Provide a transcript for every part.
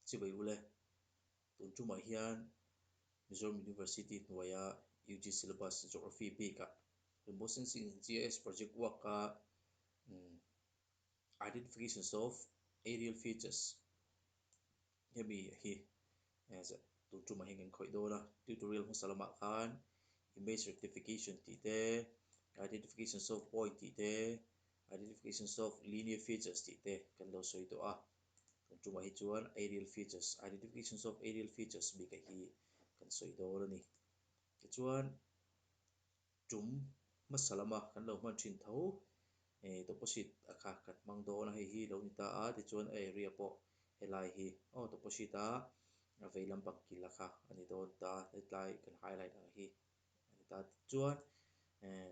Che bai u le, tun chu mah hian Mizoram University hnuaia UG Syllabus Geography bikah Remote Sensing GIS Project uaka Identifications of Aerial Features hemi hi tun chu mah hian kan khawih dawn a. Tutorial hmasa lamah khan Image Rectification tih te, Identifications of Point tih te, Identifications of Linear Features tih te kan lo sawi tawh a. Kan tumah hi chuan Aerial Features, Identifications of Aerial Features bik a hi kan sawi dawn a ni. Tichuan tum hmasa lama kan lo hman thin tho eh tawpawsit a kha kan hmang dawn a, hei hi lo ni ta a, tichuan a area pawh helai hi aw tawpawsit a a vei lam bangkil a kha a ni dawn ta, hetlai kan highlight ang hi a ni ta. Tichuan eh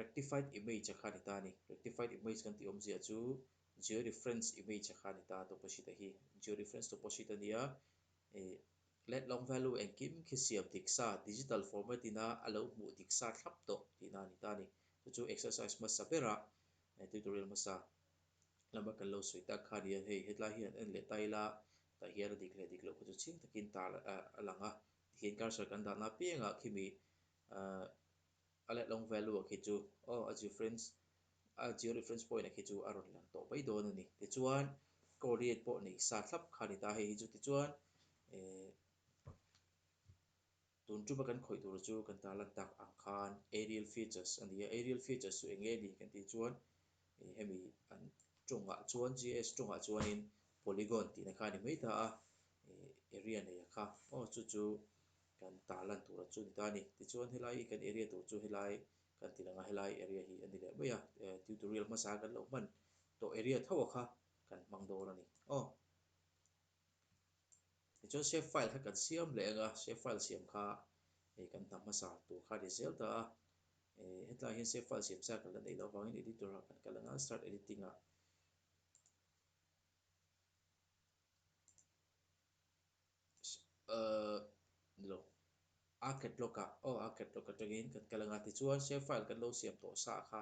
Rectified image-a kha a ni ta a ni. Rectified image kan tih awmzia chu georeference image-a kha a ni ta a tawpahrit-a hi. Georeference tawpahrit a nia ih let long value engkim khi siam dik sa digital format ina a lo hmuh dik sa thlap tawh tihna a ni ta a ni. Chu chu exercise hmasa bera tutorial hmasa lama kan lo sawi tak kha a nia. Hei hetlai hi han en leh ta ila tah hian a dik leh dik loh kha chu chhing takin tar a lang a. Tihian cursor kan dahna piangah khi mi ahh. A lehlawng value-a khi chu, oh, a geofriends, a georeference point-a khi chu a rawn lang tawh mai dawn a ni. Tichuan, coordinate pawh nei sa thlap kha a ni ta, hei hi chu tichuan, eh, tun tupa kan khawih tur chu kan ta lan tak ang khan aerial features a ni a, aerial features chu eng nge ni kan tih chuan, eh, hemi an tawngah chuan, GIS tawngah chuanin polygon tihna kha a ni mai ta a, eh, area neia kha, oh, chu chu Kan ta lan tur a chu ni ta a ni. Tichuan helai i kan area tur chu helai kan ti langa helai area hi a ni leh mai a, tutorial hmasa kan lo hman tawh area tho a kha kan hmang dawn a ni aw. Tichuan shape file kha kan siam leh anga shape file siam kha hei kan ta hmasa tur kha a ni zel ta a. Hei hetlai hian shape file siam sa kan la neih loh avangin editor ah kan kal a nan start editing ah Ahh loh a catlock ah aw a catlock atangin kan kal anga tichuan save file kan lo siam tawh sa kha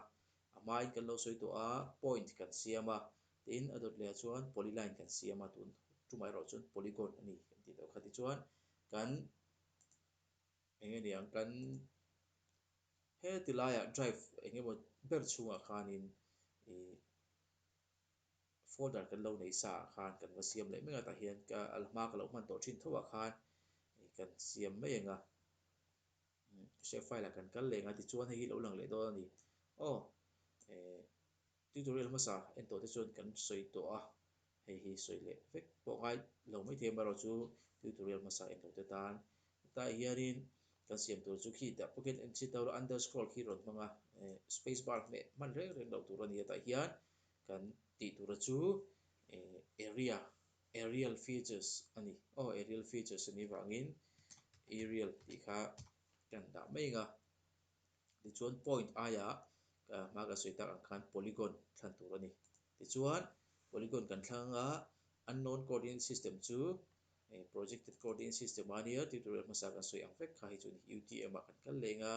a hmain kan lo sawi tawh a point kan siam a tin a dawt lehah chuan polyline kan siam a tun tumah erawh chuan polygon a ni kan tih loh kha tichuan kan eng nge ni ang kan heti laiah drive eng nge maw ber chhungah khanin ih. folder kan lo nei sa ah khan kan va siam leh meng a tah hian ka a la hma ka lo hman tawh thin tho ah khan kan siam mai eng a shape file ah kan kal leh eng a tichuan hei hi lo lang leh dawn a ni aw eh tutorial hmasa en tawh te chuan kan sawi tawh a hei hi sawi leh vek pawh ngai lo maithei amaherawhchu chu tutorial hmasa en lo te tan hetah hian in kan siam tur chu khi dah pawh hian en chhi ta ula underscore khi a rawn hmang a eh space bar hmeh hman reng reng lo tur a ni hetah hian. Kan tih tura chu area, aerial features, a ni. Aw aerial features a nih vangin aerial tih kha ka han dah mai ang a. Tichuan point aia hma kan sawi tak ang khan polygon thlan tur a ni. Tichuan polygon kan thlang anga unknown coordinate system chu projected coordinate system a nia tih tur leh hmasa kan sawi ang vek kha hi chu a ni. UTM ah kan kal leh ang a,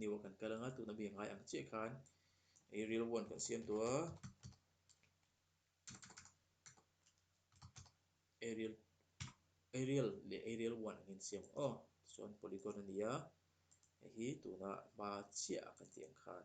New-a kan kal anga tuna mi ngai ang chiah khan hei real one kan siam tawh a, Arial Arial leh Arial one ang in siam ang aw tichuan polygon a nia hei hi tuna hma chiah a kan tih ang khan.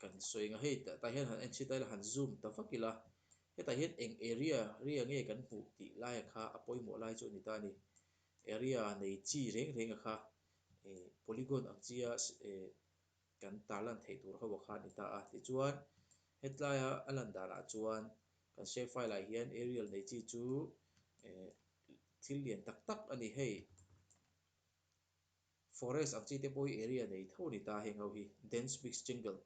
kan sawi eng hei tah hian han en chhit a ila han zoom ta vak ila hetah hian eng area ria nge kan hmuh tih laia kha a pawimawh lai chu a ni ta a ni area nei chi reng renga kha eh polygon ang chi a eh kan tarlan theih tur ho a kha a ni ta a tichuan hetlaia a lan danah chuan kan shape file ah hian aerial nei chi chu eh thil lian tak tak a ni hei. Forest ang chi te pawh hi area nei tho a ni ta, heng ho hi dense mixed jungle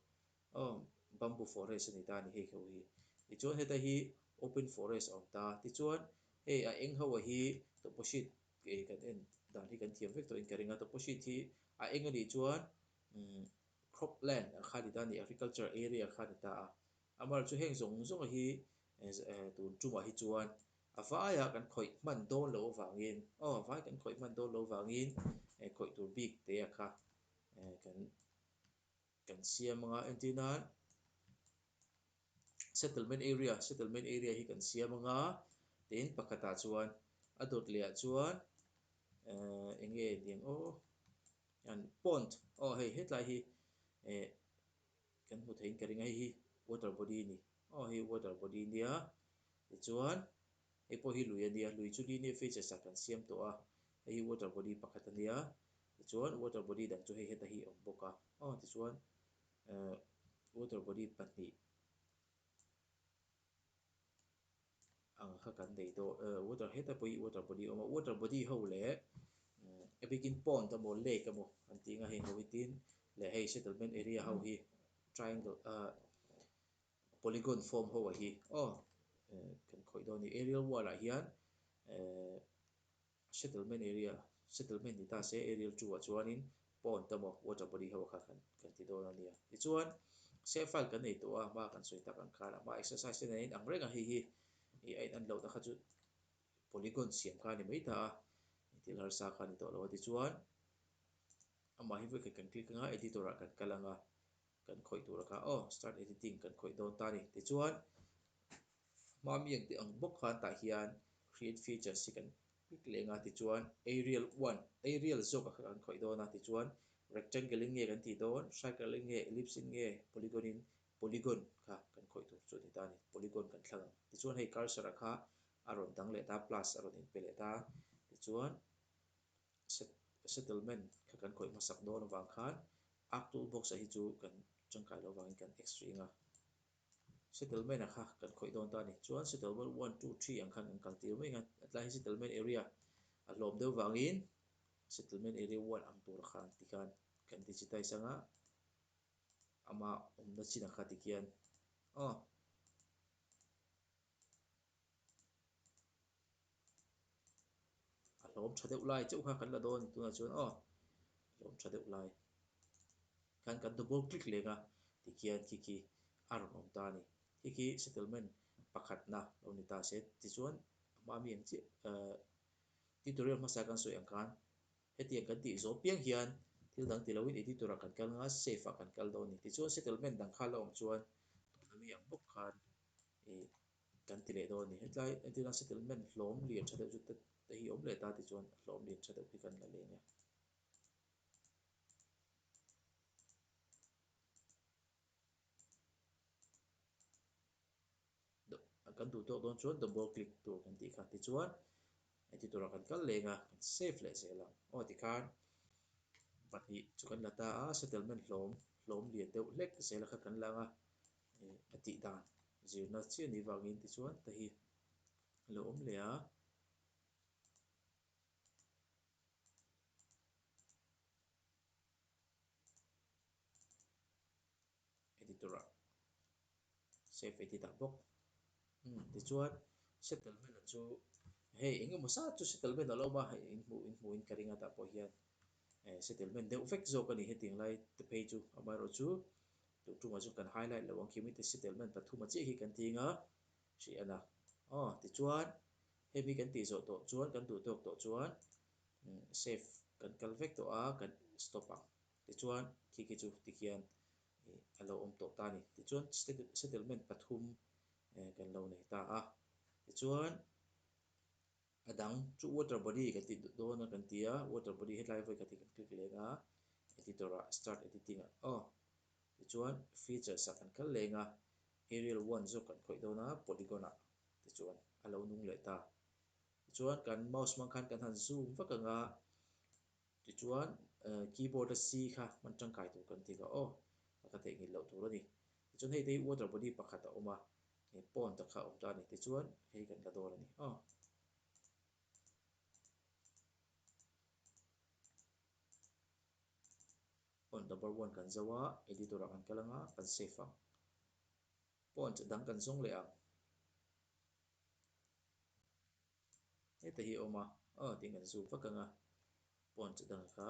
aw bamboo forest a ni ta a ni hei ho hi. Tichuan heta hi open forest a awm ta. Tichuan hei a eng ho a hi tawlhpahrit kei kan en dan hi kan thiam vek tawhin ka ring a, tawlhpahrit hi a eng a nih chuan umm cropland kha a ni ta a ni, agriculture area kha a ni ta a. A mal chu heng zawng zawng hi tun tumah hi chuan a vaia kan khawih hman dawn lo avangin aw a vai kan khawih hman dawn lo avangin khawih tur bik te a kha kan kan siam anga engtinan settlement area settlement area hi kan siam anga tin pakhatah chuan a dawt leh ah chuan ehh eng nge a intiang aw pond aw hei hetlai hi ehh. Kan hmu thei in ka ring a, hei hi water body a ni. Aw hei water body a nia. Tichuan hei pawh hi lui a nia. Lui chu linear features ah kan siam tawh a. Hei hi water body pakhat a nia. Tichuan water body dang chu hei heta hi a awm bawk a. Aw tichuan water body pahnih. ang kha kan nei daw a water heta pawh hi water body a awm a water body ho leh a bikin pond emaw lake emaw kan tih ang a hei ho hi tin leh hei settlement area ho hi triangle ah polygon form ho a hi aw kan khawih dawn a ni aerial wall ah hian ehh-- Settlement area, settlement ni ta se aerial chu-ah chuanin pond emaw water body ho kha kan kan ti dawn a nia. Tichuan, save file kan nei tawh a, hma kan sawi tak ang khan, hma exercise te nen a inang reng a hei hi, ih a inan lohna kha chu polygon siam kha a ni mai ta a, ih thil harsa kha a ni tawh lo a. Tichuan, amah hi vek hi kan click anga editor-ah kan kal anga. Kan khawih tur a ka, aw, start editing kan khawih dawn ta ni. Tichuan, hmami an tih ang bawk khan tah hian create features hi kan click leng a, tichuan Arial one, Arial zawk a kha kan khawih dawn a, tichuan Rectangle in nge kan tih dawn, Circle in nge, Ellipse in nge, Polygon in, Polygon kha kan khawih tur chu a ni ta ni, Polygon kan thlang ang. Tichuan hei cursor a kha a rawn dang leh ta, plus a rawn inpe leh ta, tichuan settlement kha kan khawih hmasak dawn avang khan ark toolbox ah hi chu kan tangkai loh avangin kan x ring a, settlement a kha kan khawih dawn ta a ni. Chuan settlement one two three ang khan kan kal tir mai hian a tlaihi settlement area a hlawm deuh vangin settlement area one ang tura khan ti khan kan digitize ang a, ama awmna chinah kha tikhian aw. a hlawm tha deuh lai chauh kha kan la dawn tunah chuan aw hlawm tha deuh lai khan kan double click leh nga tikhian khi khi a rawn awm ta a ni khi khi settlement pakhatna lo ni ta se tichuan a hma mi ang chiah ehh tutorial hmasa kan sawi ang khan hetiang kan tih zawm piang hian thil dang tilo in editor ah kan kal nga save ah kan kal dawn a ni tichuan settlement dang kha la awm chuan tuna mi ang bawk khan ih-- Kan ti leh dawn a ni. Hetlai Adila settlement hlawm lian tha deuh chu te te hi awm leh ta tichuan a hlawm lian tha deuh khi kan la leh nia. Doh kan duh tawk dawn chuan double click tur kan tih kha tichuan heti tura kan kal leng a, kan save leh zel a. Aw tikhan pahnih chu kan la ta a, settlement hlawm hlawm lian deuh hlek zel a kha kan la ang a. a tih dan zirna chiah ni vangin tichuan ta hi a lo awm leh a. Editor ah save a ti ta bawk. Tichuan settlement a chu hei eng emaw sang chu settlement a lo awm a, hei in hmuh in hmuhin ka ring a tah pawh hian settlement deuh vek zawk a ni hetiang lai te phei chu amaherawhchu Tû ṭûngah chuan kan highlight lo ang khi mite settlement pathuma chiah hi kan ti eng a? Hrih a la. Aw, tichuan hemi kan tih zawh tawh chuan kan duh tawk tawh chuan save kan kal vek tawh a, kan stop ang. Tichuan khi khi chu tikhian a lo awm tawh ta a ni. Tichuan settlement pathum kan lo nei ta a. Tichuan. A dang chu water body kan tih duh dawn a kan ti a, water body he tlai vawi khatih kan click leng a, editor ah start editing ah aw tichuan features ah kan kal leng a, Arial one zawk kan khawih dawn a, polygon ah te chuan a lo nung leh ta. Tichuan kan mouse hmang khan kan han zoom vak anga Tichuan, keyboard a C kha hman tangkai tur kan ti lo aw, a ka teh nghil loh tur a ni. Tichuan hei te hi water body pakhat a awm a, he pond tak kha a awm ta a ni. Tichuan, hei kan la dawn a ni aw. Pond number one kan zau a, editor ah kan kal ang a, kan save ang. Pond dang kan zawng leh ang. Heta hi a awm a, aw tiin kan zoom vak ang a, pawn che dan kha.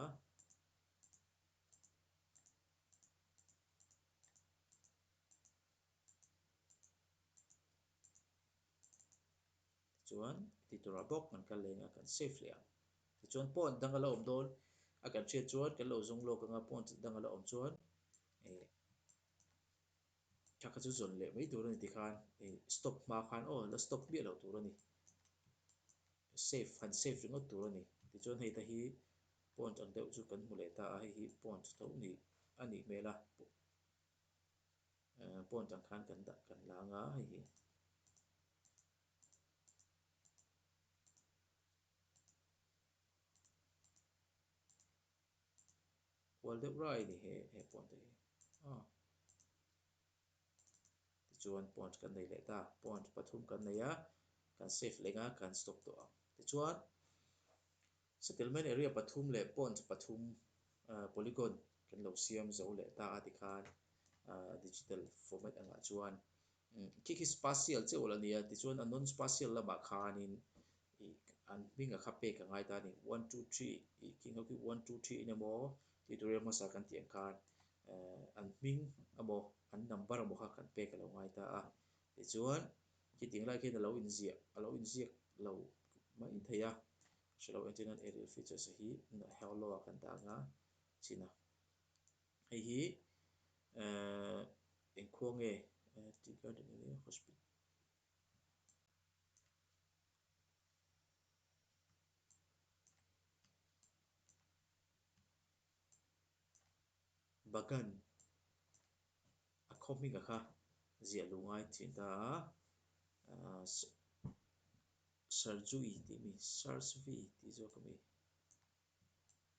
Tichuan editor ah bawk kan kal leh anga kan save leh ang. Tichuan pawn dang a la awm dawn a kan hriat chuan kan lo zawng lawk anga pawn che dang a la awm chuan eh. Tha kha chu zawn leh mai tur a ni ti khan hei stop hma khan aw la stop miah loh tur a ni. Save han save ringawt tur a ni. Tichuan hei te hi point ang deuh chu kan hmu leh ta a, hei hi point tho ni a nih hmel a, eh point ang khan kan dah kan la ang a hei hi. hual deuh rai a ni he he pawn te hi a tichuan pawn kan nei leh ta pawn pathum kan nei a kan save leng a kan stop tawh ang tichuan settlement area pathum leh pawn pathum ah polygon kan lo siam zo leh ta a tikhan ah digital format angah chuan khi khi spatial che ulh a nia, tichuan a non-spatial lamah khanin ih an hming a kha pek a ngai ta a ni. One two three ih khi ho khi one two three in emaw tih tur rel hmasa kan tih ang khan eh an hming emaw an number emaw kha kan pek a lo ngai ta a. Tichuan khi ting lai khian a lo inziak a lo inziak lo mai thei a, hrelo engtin an aerial features a hi nahheo law a kan dah ang a, chhin a. Hei hi ehh eng khuang nge Tea Garden ah hian hospital Bagan a khaw hminga kha ziah duh ngai thin ta a Sir Zui tih a mi Sirs Vii tih zawk a mi.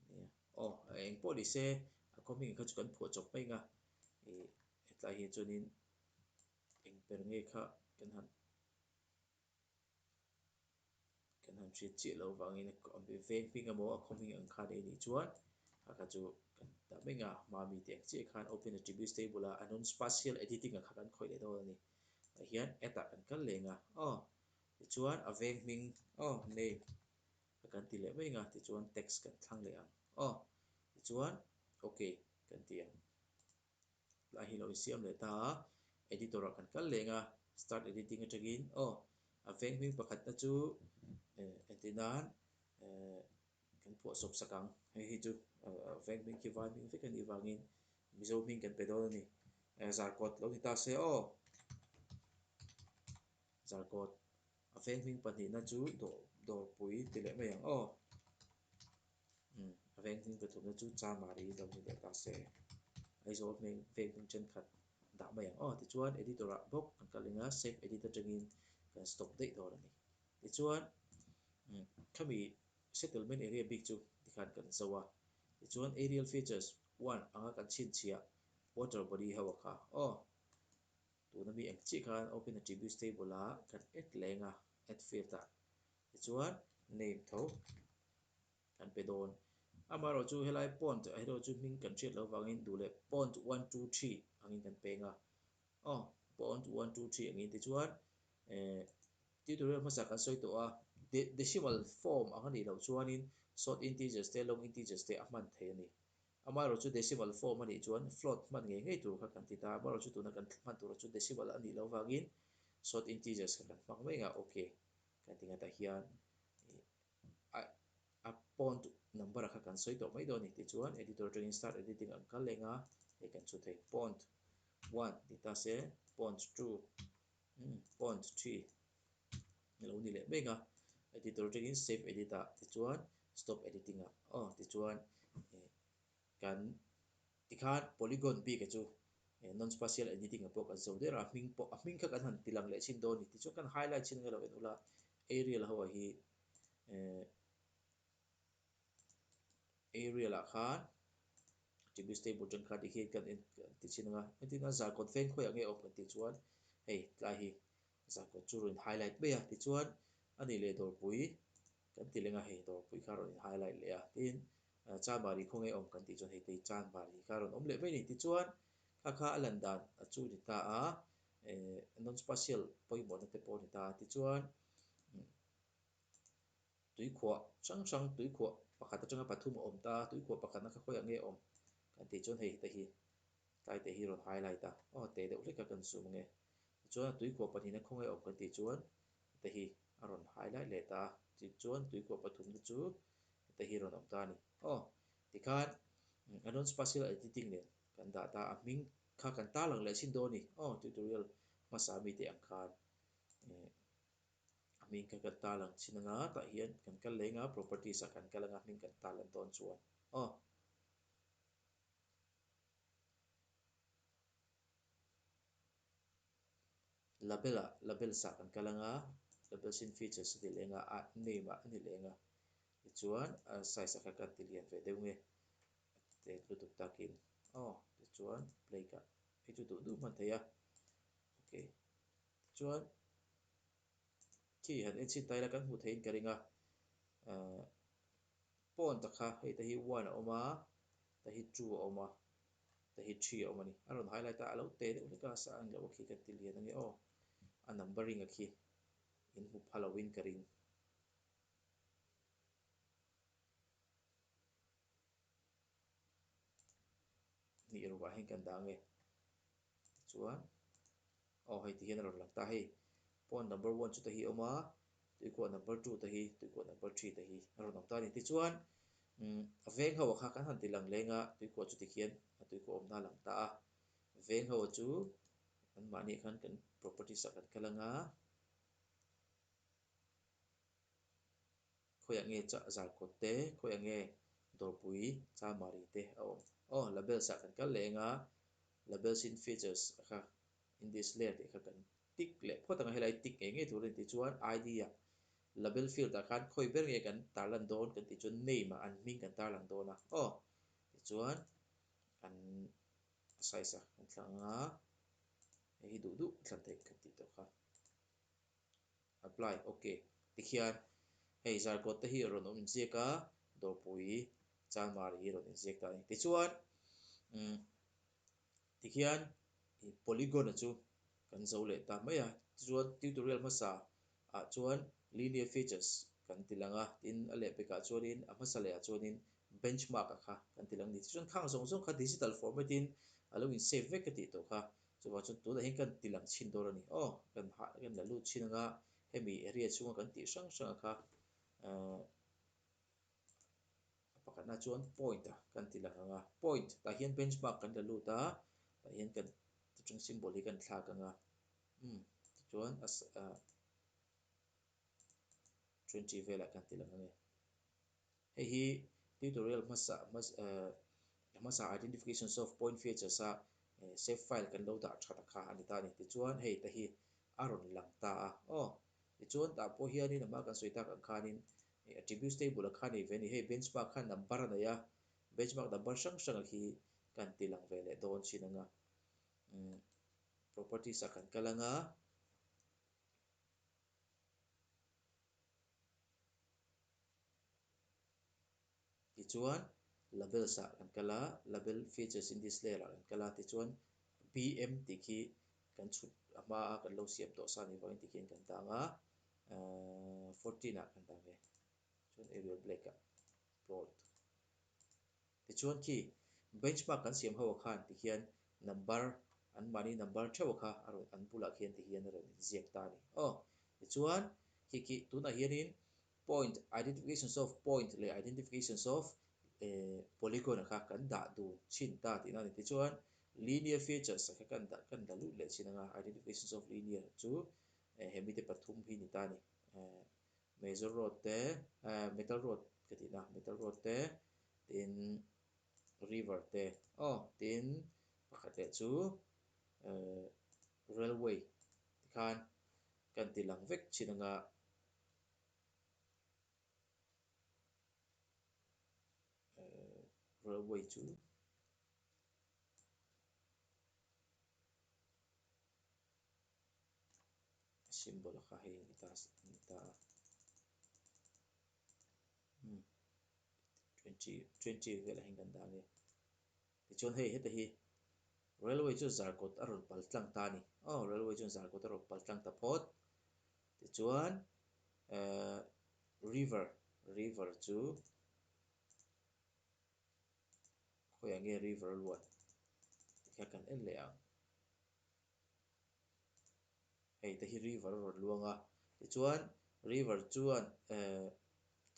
Nia aw eng pawh ni se a comment kha chu kan phuah chawp mai anga ih hetlai hi chuanin eng per nge kha kan han kan han hriat chiah loh avangin veng hming emaw a comment ang khan ei nih chuan a kha chu kan tah mai anga hma mi te ang chiah khan open attributes table a non spatial editing a kha kan khawih leh dawn a ni ah hian at a kan kal leh anga aw tichuan a veng hming aw name. A kan ti leh meng a, tichuan text kan thlang leh ang. Aw! Tichuan, OK kan ti ang. Tlai hi lo insiam leh ta a, Editor ah kan kal leng a, Start Editing atangin, aw! A veng hming pakhatna chu engtin nan kan phuah sawp sak ang. Hei hi chu a veng hming khi Vai hming vek anih avangin Mizo hming kan pe dawn a ni. Zarkawt lo ni ta se aw! Zarkawt A veng hming pahnihna chu dawr dawrpui ti leh mai ang aw. Umm a veng hming pe thumna chu Chamari lo ni leh ta se. Aizawl hming veng hming thenkhat dah mai ang aw. Tichuan editor ah bawk an kal eng a save edit atangin kan stop daih dawn a ni. Tichuan umm khami settlement area bik chu tikhan kan zo a. Tichuan aerial features one anga kan chhinchhiah water body ho a kha aw. Tuna mi eng chiah khan open attributes table ah kan add leng a, add field ah. Tichuan name tho kan pe dawn. Amaherawh chu helai pond ah erawh chu hming kan hriat loh avangin duh leh pond one two three angin kan peng a. Aw pond one two three angin tichuan eh tutorial hmasa kan sawi tawh a, decimal form ang anih loh chuanin short integers te long integers te a hman thei a ni. Amaherawh chu decimal form a nih chuan float hman ngei ngei tur kha kan ti ta. Amaherawh chu tuna kan hman tura chu decimal a nih loh vangin short integers kha kan hmang meng a, ok kan ti nghat ah hian a pawnt number a kha kan sawi tawh mai dawn a ni. Tichuan editor atangin start editing an kal eng a, hei kan chhut hei pawnt one tih ta se, pawnt two, pawnt three. alo ni leh mek a editor tangin save edit ah tichuan stop editing ah aw tichuan eh kan tikhan polygon bik a chu eh non spatial editing ah pawh kan sawi der a a hming pawh a hming kha kan han ti lang leh chin dawn a ni tichuan kan highlight chin ang alo en ula arial ho ah hi eh arial ah khan attribute table tan khan tikhian kan en ti chin anga entin a zarkawt veng khawiah nge awm kan tih chuan hei tlai hi Zan kawt chu rawn in highlight mai a tichuan a nih leh dawrpui kan ti lenga hei dawrpui kha rawn in highlight leh a tin chanbari khawnge awm kan tih chuan hei tei chanbari kha rawn awm leh mai ni tichuan kha kha a lan dan a chu ni ta a ehh non spatial pawimawhna te pawh a ni ta a tichuan tuikhuah hrang hrang tuikhuah pakhat atanga pathum a awm ta a tuikhuah pakhatna kha khawiah nge awm kan tih chuan hei te hi. Tlaite hi rawn hai lai ta, aw te deuh hleka kan sum nge. Tichuan a tuikua pahnihin a khaw nge awm kan tih chuan heta hi a rawn hai lai leh ta a, chih chuan tuikua pathum te chu heta hi rawn awm ta a ni. Aw tikhan Anon Spatial Editing nen kan dah ta, a hming kha kan tar lang leh sin dawn ni. Aw tutorial hmasa mite ang khan eh a hming kha kan tar lang chhin anga tah hian kan kal leh anga properties a kan kal anga hming kan tar lan dawn chuan aw. Label ah label sak an kal anga, label sin features a tilh enga a name ah a nilh enga tichuan a size a kha ka ti lian ve deuh nge tih lutuk takin aw tichuan play kah hei chu duh duh hman theih a ok tichuan khi han exit taila kan hmuh theihin ka ring a ahh. Pawn ta kha hei ta hi one a awm a, ta hi two a awm a, ta hi three a awm a ni. A rawn highlight a, a lo teh deuh hlek a, sa ang loh a khi ka ti lian a ni aw. A numbering a khi in hmu pha lo in ka ring. hnih ruk ah hian kan dah nge tichuan aw hei ti hian a rawn lang ta hei pawn number one chu te hi a awm a tuikuah number two te hi tuikuah number three te hi a rawn awm ta a ni tichuan umm a veng ho kha kan han ti lang leng a tuikuah chu ti khian a tuikuah awm na a lang ta a veng ho chu anmahni khan kan properties ah kan kal ang a. Khawiah nge chah zar kawt te, khawiah nge dawrpui chang mari te a awm? Aw, labels ah kan kal leh eng a, labels in features a kha index layer tih kha kan tik leh phawt ang a, helai tik ngei ngei tur a ni tih chuan ID ah label field ah khan khawi ber nge kan tar lan dawn kan tih chuan name ah an hming kan tar lang dawn a, aw tih chuan an size a kan thlang a, hei hi duh duh thlan theih kan tih tawh kha Apply, OK. Tikhian hei zar code te hi rawn awm inziak a, Dawrpui Changmari hi rawn inziak ta a ni. Tichuan umm tikhian ih polygon-a chu kan zo leh ta mai a, tichuan tutorial hmasa ah chuan Linear Features kan ti lang a, tin a leh bek ah chuanin a hmasa leh ah chuanin Benchmark-a kha kan ti lang a ni. Tichuan khang zawng zawng kha digital format-in a lo in save vek ka tih tawh kha Chuvah chuan tunah hian kan ti lang chhin dawr a ni. Aw, kan hah kan la lut chhin anga hemi area chunga kan tih hrang hranga kha eh, a pakhatna chuan point a kan ti lang anga point tah hian benchmark kan la lut a, tah hian kan ti chung symbol hi kan thlak anga umm tichuan a ah twenty velah kan ti lang a ni. Hei hi tutorial hmasa hmasa identifications of point features a save file kan lo dah that a kha a ni ta a ni. Tichuan hei te hi a rawn lang ta a aw. Tichuan tah pawh hianin a hma kan sawi tak ang khanin attributes table a kha nei ve a ni. Hei benchmark khan number a nei a, benchmark number hrang hranga khi kan tih lang ve leh dawn chin anga umm properties ah kan kal anga, Tichuan, Labels ah kan kal a, Label features in this layer ah kan kal a, tichuan BM tih khi kan chhut a hma a kan lo siam tawh sa ni vangin tih khian kan tang a, fourteen ah kan tang e, chuan Arial black ah bold. Tichuan khi benchmark kan siam ho a khan ti khian number an mahni number theuhah kha a rawn an bulah khian ti hian a rawn inziak ta a ni. Aw tichuan khi khi tunah hianin point identifications of point leh identifications of polygon a kha kan dah dun chin ta tihna a ni. Tichuan linear features a kha kan dah kan dah luh leh chin anga identifications of linear chu he mite pathum hi ni ta a ni. Major road te, eh, middle road ka tih na, middle road te, tin river te aw, tin pakhat leh chu, eh, railway te khan kan ti lang vek chin anga. Eh, railway chu. symbol kha hei an ni ta an ni ta a umm twenty twenty velah hi an kan dah a ni tichuan hei heta hi railway chu zar kawt a rawn pal tlang ta a ni aw railway chuan zar kawt a rawn pal tlang ta phawt tichuan ehh river river chu khawiah nge river a luan tih kha a kan en leh ang. hei te hi river a rawn luang a tichuan river chuan ehh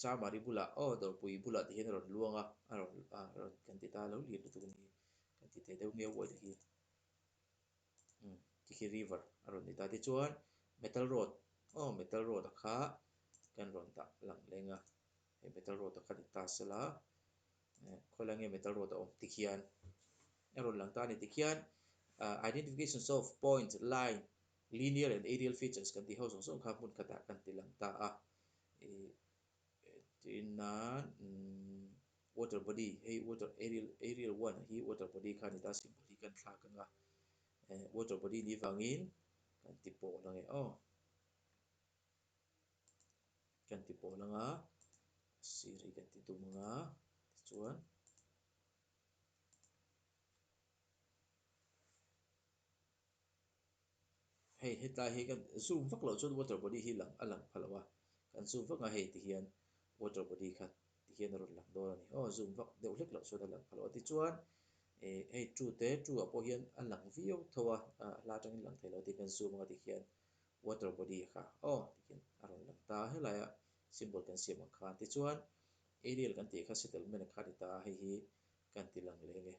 chamari bulah aw dawrpui bulah te hian a rawn luang a a rawn ah kan ti ta lo lir lutuk a ni kan ti thei deuh mai a uai te hi umm te khi river a rawn ni ta tichuan metal rod aw metal rod a kha kan rawn dah lang leng a. He metal rod a khan i ta sel a, khawi lai nge metal rod a awm tik hian a rawn lang ta a ni tik hian identifications of point, line, linear and aerial features kan tih ho zawng zawng kha hmun khatah kan ti lang ta a. Tin nan water body hei water aerial aerial one hi water body kha a ni ta a symbol hi kan thlak anga water body ni vangin kan ti pawh la nge aw. kan ti pawh lang a siri kan ti tum ang a tichuan hei hetlai hi kan zoom vak loh chuan water body hi lang a lang pha lo a kan zoom vak ang a hei tihian water body kha tihian a rawn lang dawn a ni aw zoom vak deuh hlek loh chuan a lang pha lo a tichuan ih hei two te two ah pawh hian a lang viau tho a a hla atangin a lang thei lo a tih hian kan zoom ang a tih hian. water body kha aw tiin a rawn lang ta helai a symbol kan siam ang khan tichuan Arial kan tih kha settlement a khat i ta hei hi kan ti lang leh nge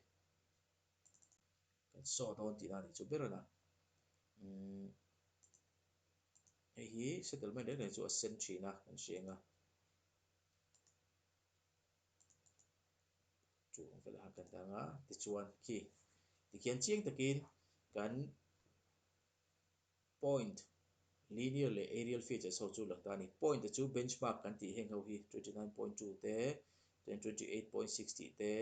kan show dawn tihna nei chu ber a la umm hei hi settlement reng reng chu a send thin a kan hre anga chung velah khan kan dang a tichuan khi tikhian chiang takin kan. Point, Linear leh Aerial features ho chu lang ta a ni. Point te chu benchmark kan tih heng ho hi twenty nine point two te, chuan twenty eight point six tih te,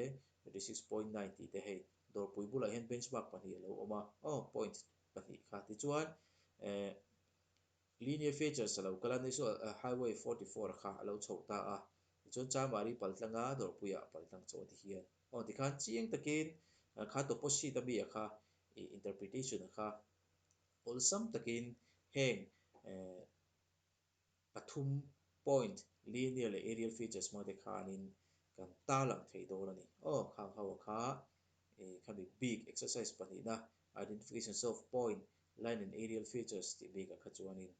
twenty six point nine tih te hei dawrpui bulah hian benchmark pahnih a lo awm a. Aw point pahnih kha. Tichuan eh Linear features a lo kal a, ni chu a Highway forty four kha a lo chhoh ta a. Tichuan Chamari pal tlanga dawrpuia pal tlang chauh a ti hian. Aw tikhan chiang takin kha tawpaw sheet a mi a kha interpretation a kha awlsam takin heng pathum point, linear leh aerial features hmang te khanin kan tarlang thei dawn a ni. Aw khang ho kha khami bik exercise pahnihna identifications of point, line and aerial features tih bikah kha chuanin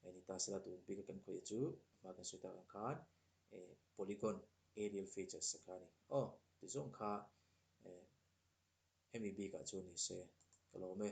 hemi task la tun bika kan khawih chu hma kan sawi tak ang khan polygon aerial features a kha a ni. Aw ti zawng kha Eh, hemi bikah chuan nise ka lawm e.